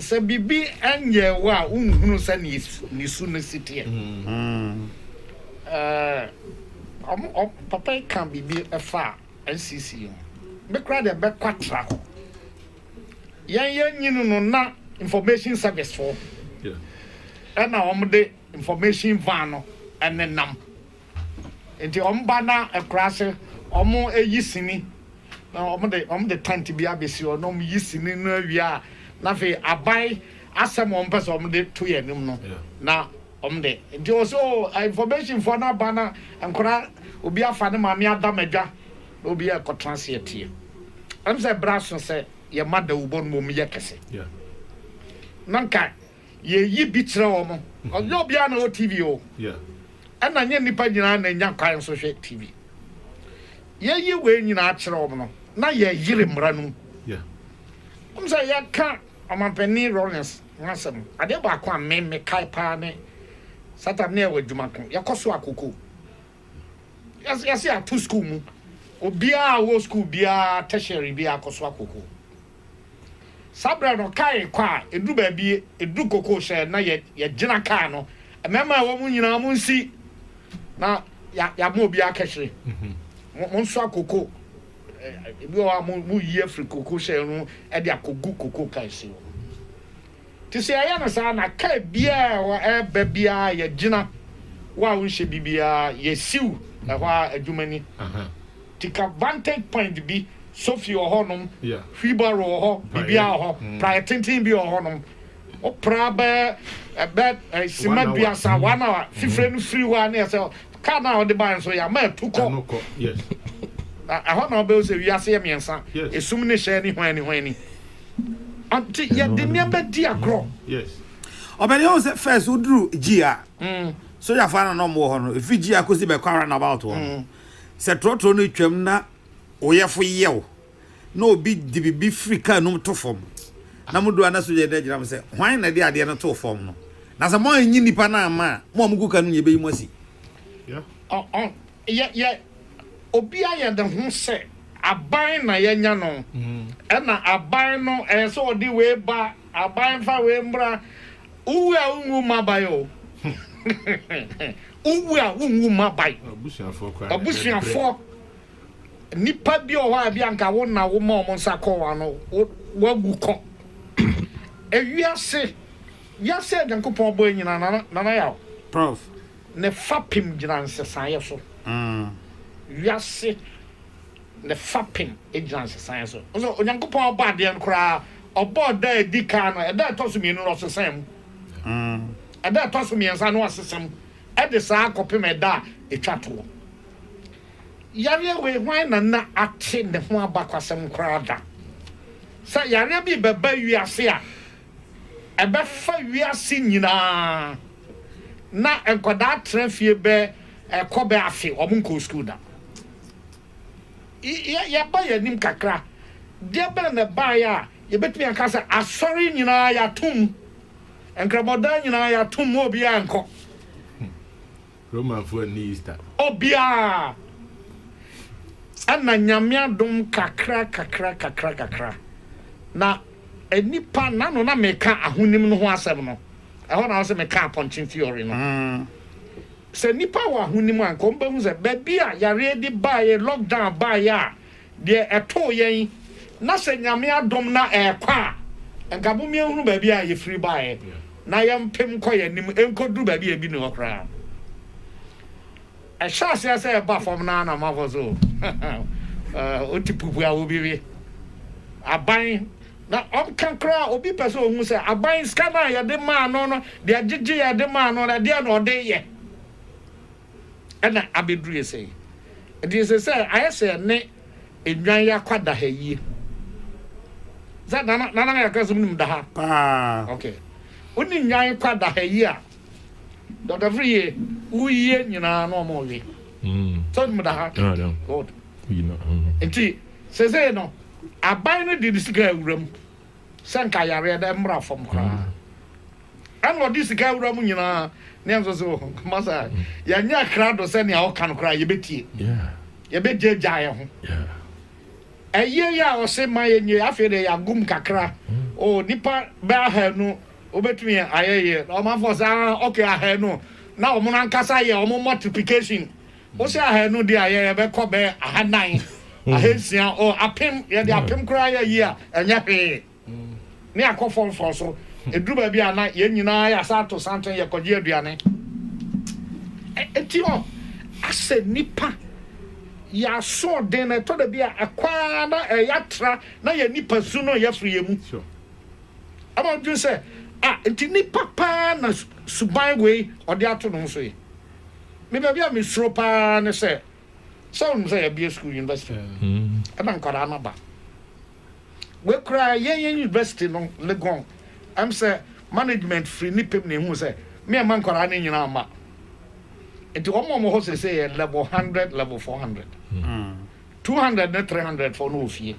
Sɛ biribi nyɛɛ wo a wonhunu sɛ nisu no si teɛ. Papa yi ka biribi fa NCC ho. Me koraa deɛ bɛkɔ atra hɔ. Yɛn yɛ nyini no na information service foɔ ɛna wɔn de information van no ɛne nam. Nti ɔmo ba na akuraase ɔmo yi sini na ɔmo de ɔmo de tɛnt bi abɛsi hɔ na ɔmo yi sini no awie a na afei aban asɛm a ɔmo pɛ sɛ ɔmo de to yɛn anim no na ɔmo de nti ɔsɛ o information foɔ no aba na nkora obi afa ne maame adam adwa na obi yɛ ɛkɔtena ase yɛ tie ɛm sɛ ɛbrɛ aso sɛ yɛ ma dawubɔ no mo yɛ kɛse na nka yɛyi bi kyerɛ wɔn. Ɔnyɛ obiara na ɔwɔ TV o. Ɛna nyɛ nnipa nyinaa na ɛnya kwan nso hwɛ TV. Yɛyi wei nyinaa kyerɛ wɔn no, na yɛyere mmara no mu. Wɔn sɛ yɛka ɔmampanin Rawlings ho asɛm, adeɛ baako a me mekae paa ne satan ne ɛwɔ adwuma ko. Yɛkɔ so akoko. Yɛse ato school mu. Obiara a ɔwɔ school biara tertiary biara kɔ so akoko. Saa berɛ no, kaa rekɔ a, ɛduru baabi, ɛduru kokoo sɛ na yɛ, yɛgyina kaa no. Mmarima a ɛwɔ mu nyinaa, monsi, na yɛ, yɛama obi akɛhye. Mo, monsoa koko. Ɛ, ebi wɔ hɔ a, mo, moyi afiri koko hyɛn no mu de akɔgu koko kaa ase hɔ. Te sɛ yɛyɛ no saa na car biaa a ɛwɔ ɛɛba biaa yɛgyina wo a wonhyɛ bi biaa yɛsiw ɛhɔ ara adwuma ni te ka vantage point bi sofi wɔ hɔ nom wheelbarrow wɔ hɔ biribiaa wɔ hɔ praeɛ tenten bi wɔ hɔ nom wo pra bɛɛ ɛbɛ sima duasa one hour fifire no firi hɔ a ne ɛsɛ car no a wode baɛ nso yɛama atu kɔ na ɛhɔ na wobɛhu sɛ wiase yɛ mmiɛnsa esum ne hyɛɛ ne hwan ni hwan ni. Ɔnti yɛde nneɛma di agorɔ. Ɔbɛn yɛn sɛ first woduru G a mm. sojafoɔ ana na ɔmo wɔ hɔ no ɛfiri G a kɔsi bɛkɔ ara na about hɔ mm. sɛ torɔtorɔ no twam na woyɛfo yɛw na obi de biribi firi kaa num to fam na mo do ana soja no agyina mo sɛ hwan na de adeɛ no too fam no na sɛ mo anyi nnipa no ama a mo a mogu ka no nyɛ bɛyi mo asi Yɛ yɛ obi ayɛ ne ho sɛ aban na yɛanya no, ɛna aban no ɛyɛ sɛ ɔde wei ba, aban fa wei mmra. Wowu a wonwu mma aban o. Wowu a wonwu mma aban. Abusuafoɔ koraa na ɛbrɛ. Abusuafoɔ, nnipa bi wɔ hɔ a ebi anka wo na woma wɔn nsa kɔɔ wɔn ano, wawu kɔ. Ewiase, wiase a Nyankopɔn bɔe nyinaa, Nana Yaw. Prof. Ne fapem gyina nsesaeɛ so. Wiase ne fapem gyina nsesaeɛ so. Nso Onyankopɔn ɔbɔ adeɛ no koraa, ɔbɔɔ ɛda a ɛdi kan no, ɛda a ɛtɔ so mmienu no, ɔsesɛɛ mu. Ɛda a ɛtɔ so mmiɛnsa no, ɔsesɛ mu. Ɛde saa ara kɔpem ɛda a ɛtwa toɔ. Yareɛ wei, hwan na na ate ne ho abakwasɛm koraa da? Sɛ yareɛ bi rebɛba wiase a. Ɛbɛfa wiase nyinaa na nkwadaa tra fie bɛ ɛkɔ bɛ afe wɔn nkɔɔ school da. Yɛ yɛ ba yɛ nim kakra deɛ bɛn na ɛbaeɛ a yɛ bɛtumi aka sɛ asɔre nyinaa yɛ ato mu, nkrabɔdan nyinaa yɛ ato mu ma obiara nkɔ. Romanfoɔ anni Easter. Obiara ɛna Nyame adom kakra kakra kakra kakra na nnipa nano na meka ahonim no ho asɛm no ɛhɔ na ɔsɛ meka apɔnkye theory no sɛ nnipa wɔ ahonim a nka wɔn bɛhu sɛ baabi a yareɛ de baeɛ lockdown baeɛ a Deɛ ɛtoo yɛn na sɛ Nyame adom na ɛɛkɔ a nka bom yɛnhunu baabi a yɛfiri baeɛ na yɛmpem nkɔ yɛn anim nkɔduru baabi a ebi nni hɔ koraa no. Ɛhyɛ aseɛ sɛ ɛba fam no ara na amanfoɔ so wote pupu a obi we aban na ɔka koraa obi pɛ sɛ ɔhu sɛ aban sika no a yɛde maa no no deɛ gyegye yɛde maa no no ɛdeɛ na ɔde yɛ. na abɛduru yɛ sɛi. Nti ɛsɛ sɛ ayɛ sɛ yɛne nnwan yɛ akwadaha yie. Sɛ nana nana yɛ akra sɛ wonim daha? Paa. Ok. Wone nnwan kwadaha yie a, Dɔkta Friye, woyie nyinaa na wɔn we. Sɛ wonim daha? Good. Nti sɛsɛi no, aban no de ne sika awura mu. sɛ nka yareɛ no mmra fam koraa ɛna ɔde sika awura mu nyinaa ne ɛnso so wɔ nkoma sɛ yɛnyɛ krado sɛ nea ɔka no koraa yɛbɛtie yɛbɛgyagya yɛ ho ɛyɛ yɛ a ɔse ma yɛnyɛ afei deɛ yɛagum kakra o nipa bɛ ahanu wobɛtumi ayɛyɛ ɔmanfoɔ sɛ ah, ok ahanu na ɔmo no ankasa yɛ ɔmo multiplication Wo sɛ ahanu deɛ a yɛ yɛ bɛ kɔ bɛ aha nan ahansia o apem yɛ de apem koraa yɛ yi a ɛnyɛ hwee ne akɔ fɔn fɔn so eduru baabi a na yɛ nyinaa yɛ asan ato santen yɛ kɔ gye aduane eti ɔ asɛ nipa yɛ aso ɔden na ɛtɔ dabi a ɛkɔ ara na ɛyɛ atra na yɛ nipa su no yɛ firi yɛ mu ɛma ɔdwene sɛ a nti nipa paa na suban wei ɔde ato no ho so yi. Me baabi a me suro paa ne sɛ sɛ wonim sɛ yɛbea school university mm. ɛna nkwadaa no ba wei koraa yɛn yɛn university no legon ɛm sɛ management firi ne pɛm na ehu sɛ me ɛma nkwadaa no nyinaa ma nti wɔn a wɔn hɔ sese yɛ level hundred level four hundred mm. two hundred ne three hundred fɔ no wɔ fie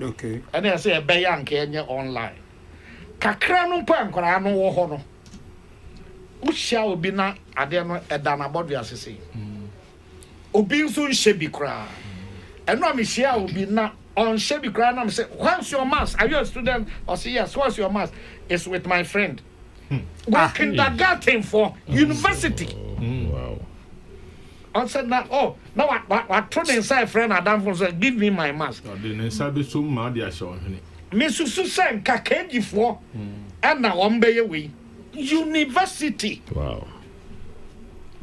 ɛna ɛsɛ yɛbɛyɛ anka yɛnyɛ online kakra no mpo a nkwadaa no wɔ hɔ no Wohyia obi na adeɛ no ɛda n'abɔdwe ase sei. Obi nso nhyɛ bi koraa. Ɛno a mehyia obi na ɔnhyɛ bi koraa na me sɛ what's your mass? Are you a student? Ɔse yes, what's your mass? It's with my friend. Hmm. Wɔ ah, kindergarten for hmm. university. Hmm. Wow. Ɔsɛ na oh na wa wa wato ne nsa ɛfrɛ n'adamfo no sɛ give me my mask. Ɔde ne nsa bɛsom ma ade ahyɛ ɔhwene. Me susu sɛ nka Keji foɔ ɛna wɔn bɛyɛ wei. University. Wow.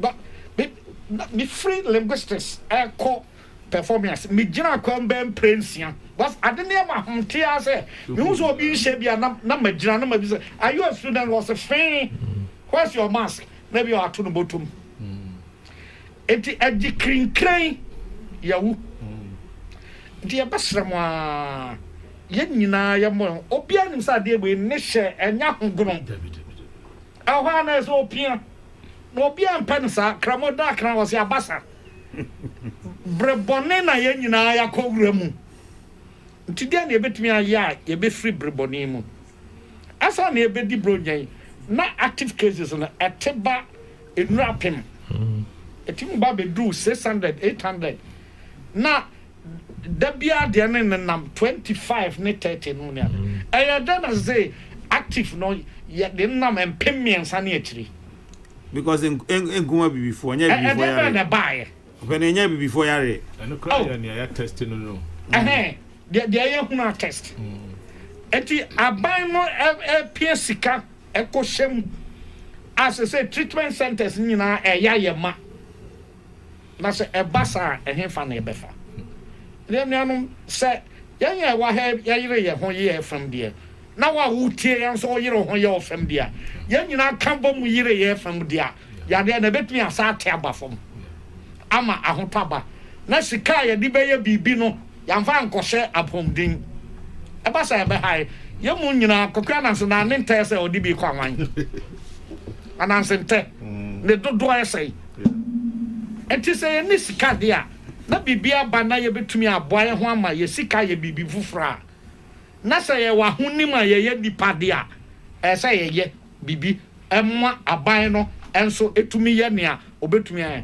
Ba me na me firi linguistics ɛkɔ performing ase me gyina kwan bɛɛ mpire nsia because ade no yɛ ma hom te ara sɛ me hu sɛ obi nhyɛ bi a na na ma gyina na ma bi sɛ are you a student ɔse fee where's your mask. na ebia wɔato no bɔtɔ mu. Enti ɛgye kirinkirɛn yɛwo. Nti yɛbɛsrɛ mo ara, yɛn nyinaa yɛmmɔ yɛn ho. Obiara nim sɛ adeɛ wei ne hyɛ ɛnyɛ ahogono. Ɛhɔ ara na ɛsɛ opia. Na obiara mpɛ no saa. Kramo da akra wɔsi abasa. Bere bɔne na yɛn nyinaa yɛakɔ wura mu. Nti deɛ na yɛbɛtumi ayɛ a yɛbɛfiri bere bɔne mu. Ansa na yɛbɛdi Buronya yi, na active cases no ɛte ba nnuru apem. Ɛtumi ba bɛduru 600, 800. Na da biara deɛ no nenam 25 ne 30 no mu ne ade. Ɛyɛ dɛn na sesei active no yɛde no nam mpem mmiɛnsa ne akyiri? Because nko nko abibifoɔ, ɛnyɛ abibifoɔ yare. Ɛdeɛ bɛn na ɛbaeɛ? Ɔpɛ na ɛnyɛ abibifoɔ yareɛ. Ɛno koraa oh. yɛ nea yɛ test no no. Ɛhɛn, deɛ deɛ yɛ hunu a test. Mm. Eti aban no ɛpia sika ɛkɔ hyɛ mu a sɛ sɛ treatment centers nyinaa ɛya yɛ ma. Na sɛ ɛba saa ɛhefa na ɛbɛfa. Deɛ nuanom sɛ yɛn yɛ wɔ ha yɛyere yɛn ho yɛ fam deɛ. na wo a woretie yɛn nso woyere wo ho yɛ wo fam de a, yɛn nyinaa ka bɔ mu yere yɛn fam de a, yadeɛ no ɛbɛtumi asan ate aba fam ama ahotɔ aba, na sika a yɛde bɛyɛ biribi no, yɛamfa ankɔhyɛ apɔmuden. Ɛba saa a, ɛbɛhae yɛn mu nyinaa. Kwaku Ananse, na ne ntɛ yɛ sɛ ɔde bi rekɔ awan? Ananse ntɛ, ne dodoɔ yɛ sɛn? Enti sɛ yɛnni sika de a, na biribi aba na yɛbɛtumi aboa yɛn ho ama yɛn sika ayɛ biribi foforɔ a, na sɛ yɛwɔ ahonim a yɛyɛ nnipa de a, ɛsɛ sɛ yɛyɛ biribi ma aban no nso tumi yɛ nea obetumi ayɛ.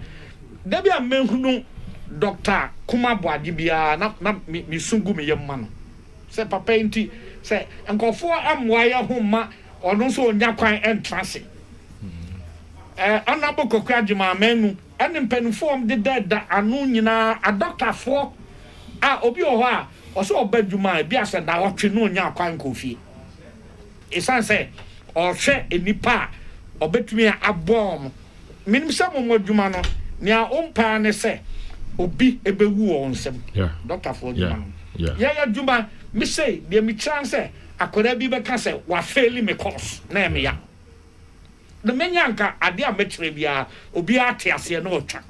Da bi a mehunu Dɔkta Kuma Boagye biara na na misu gu me yam ma no sɛ papa yi nti, sɛ nkurɔfo ammoa yɛn ho mma ɔno nso onnya kwan ntra ase. Ɛɛ, Honourable Kwaku Agyeman Manu ne mpanyimfo a wɔdeda da ano nyinaa, adɔktafoɔ a obi wɔ hɔ a, Ɔsɛ ɔba adwuma a ebia sɛ naawɔtwe na ɔnnya kwan nkɔɔ fie. Esiane sɛ ɔrehwɛ nnipa a ɔbɛtumi a aboa wɔn. Menim sɛ mo mo adwuma no nea wompɛ ara ne sɛ obi bɛwu wɔ wo nsam. Dɔktafoɔ adwuma no yɛyɛ adwuma. Me sei deɛ mekyira ne sɛ akwadaa bi bɛka sɛ wafeeli me course na ɛyɛ me ya. na menya anka adeɛ a mɛkyerɛ biara obiara te aseɛ na ɔtwa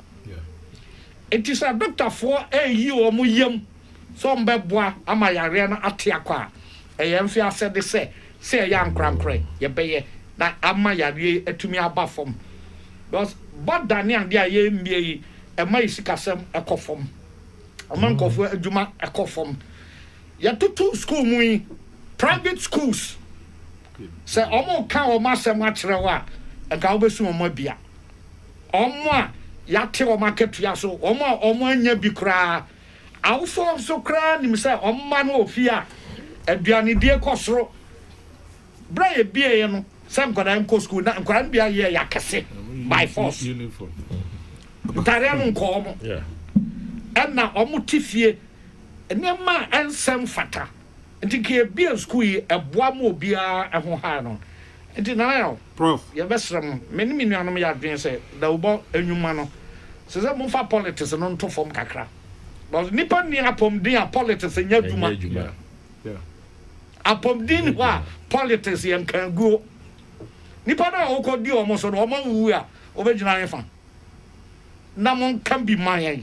nti sɛ dɔktafoɔ ɛreyi wɔn yam sɛ wɔbɛboa ama yareɛ no ate akɔ a ɛyɛ mfe asɛde sɛ sɛ yɛyɛ ankorankorɛ yɛbɛyɛ na ama yareɛ yi atumi aba fam because bɔda ne adeɛ a yɛmmie yi ɛma yɛ sikasɛm ɛkɔ fam ɛma mm. nkurɔfoɔ adwuma ɛkɔ fam yɛtoto school mu yi private schools Sɛ wɔreka wɔn asɛm akyerɛ wo a, anka wubesu wɔn abia. Wɔn a yɛate wɔn akatua so, wɔn a wɔannya bi koraa. Awofo nso koraa nim sɛ wɔn mma no wɔ fie a, aduanedie kɔ soro. Bere a yebieeɛ no, sɛ nkwadaa renkɔ sukuu, na nkwadaa no bi ayɛ yɛ akɛse by force. Ntadeɛ no nkɔ wɔn. Ɛnna wɔte fie. Nneɛma a ɛnsɛ mfata. Nti nka yɛbie sukuu yi ɛboa ma obiara ɛho haa no nti Nana Yaw, Prof. yɛbɛsrɛ mo, me ne me nuanom yɛ adwene sɛ dawubɔ nnwuma no ɛsɛ sɛ momfa politics no nto fam kakra because nnipa nni apɔmuden a politics nyɛ adwuma. Apɔmuden nni hɔ a politics yɛ nkaguo. Nnipa no a wokɔdi wɔn so no, wɔn awuwu a wobɛgyina hefa? na monka bi ma yɛn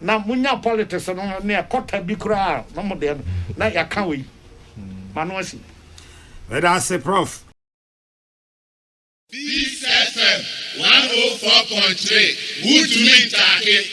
na monya politics no ne ɛkɔta bi koraa na mo deɛ no na yɛaka wei ma no asi meda ase prof Peace FM 104.3 Wotumi Ntaake.